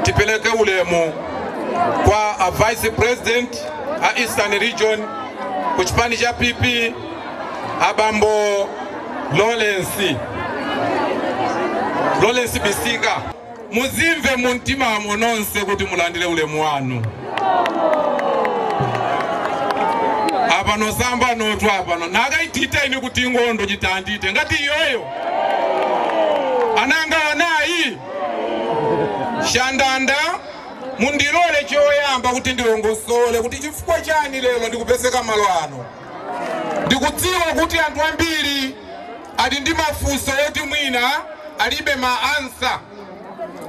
Tipeleke ulemu kwa a vice president a Eastern Region ku chipani cha PP abambo Lawrence Lawrence Bisika muzimve mu mtima mwa nonse kuti mulandire ulemu wanu apano sambanotu apano naka ititeni kuti ngondo chitandite ngati myoyo ananga anayi chandanda mundilole choyamba kuti ndilongosole kuti chifukwa chani lero ndikupezeka malo ano Ndikudziwa kuti anthu ambiri ali ndi mafunso oti mwina alibe ma answer.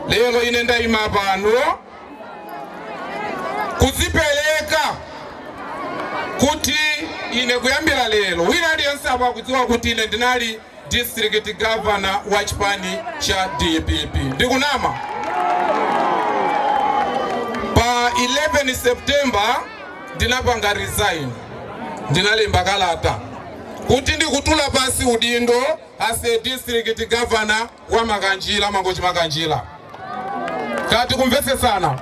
Lero ine ndayima apano kudzipereka kuti ine kuyambira lero wina aliyense apa akudziwa kuti ine ndinali district governor wa chipani cha dpp ndikunama pa 11 september ndinapanga resign ndinalemba kalata kuti ndikutula pansi udindo as a district governor wa makanjira mangochi makanjira kapi tikumvetsetsana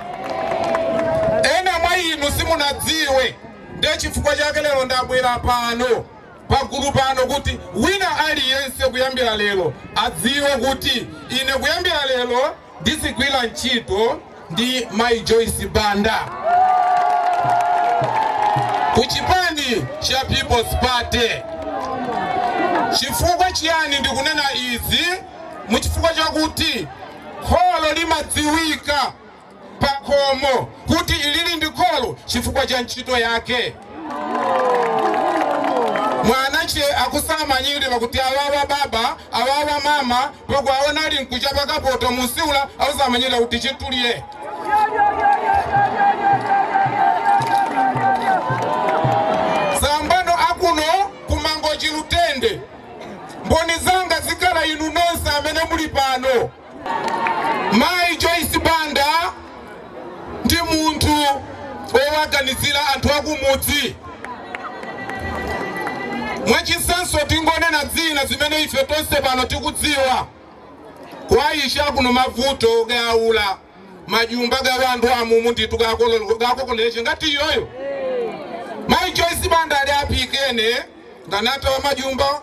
ena mwa inu simunadziwe ndiye chifukwa chake lero ndabwera pano pagulu pano kuti wina aliyense kuyambira lero adziwe kuti ine kuyambira lero ndizigwira ntchito ndi Mai Joyce Banda kuchipani cha People's Party. Chifukwa chiyani ndikunena izi? Muchifukwa chakuti kholo limadziwika pakhomo kuti ilili ndi kholo chifukwa cha ntchito yake mwana che akusamanyirira kuti awawa baba awawa mama pakwawona ali mkuchapa kapoto mu chiwula akusamanyirira kuti chitulye sambano akuno kumangochi lutende mboni zanga zikhala inu nonse amene muli pano Mayi Joyce Banda ndi munthu wowaganizira anthu akumudzi. Mwachitsanzo tingonena zina zimene ife tonse pano tikudziwa kwa isya kuno mavuto ga wula majumba ga wandu amumu nditu gakokoleche ngati myoyo mayi Joyce Banda ali apikene nganatawa majumba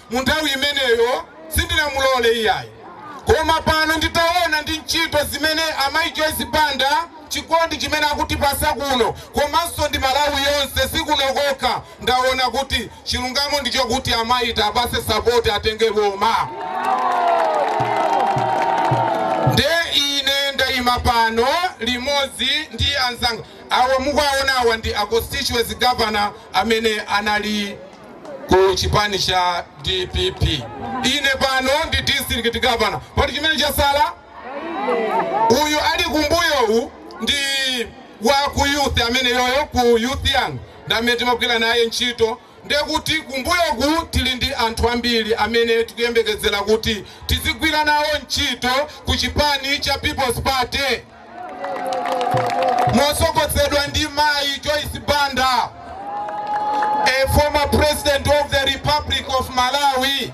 mu nthawi imeneyo sindinamulole iyayi koma pano nditaona ndi ntchito zimene amayi Joyce Banda chikondi chimene akutipasa kuno komanso ndi Malawi yonse sikuno kokha ndaona kuti chilungamo ndicho kuti amayi tiwapase sapoti atenge boma nde ine ndayima pano limodzi ndi anzanga awa mukuwaonawa ndi a constituency governor amene anali ku chipani cha dpp ine pano ndi district governor poti chimene chasala uyu ali kumbuyowu ndi wa ku youth amene ku youth young ndi amene timagwira naye ntchito ndekuti kumbuyoku tili ndi anthu ambiri amene tikuyembekezera kuti tizigwira nawo ntchito ku chipani cha people's party motsogozedwa ndi mayi Joyce Banda a former president of the Republic of Malawi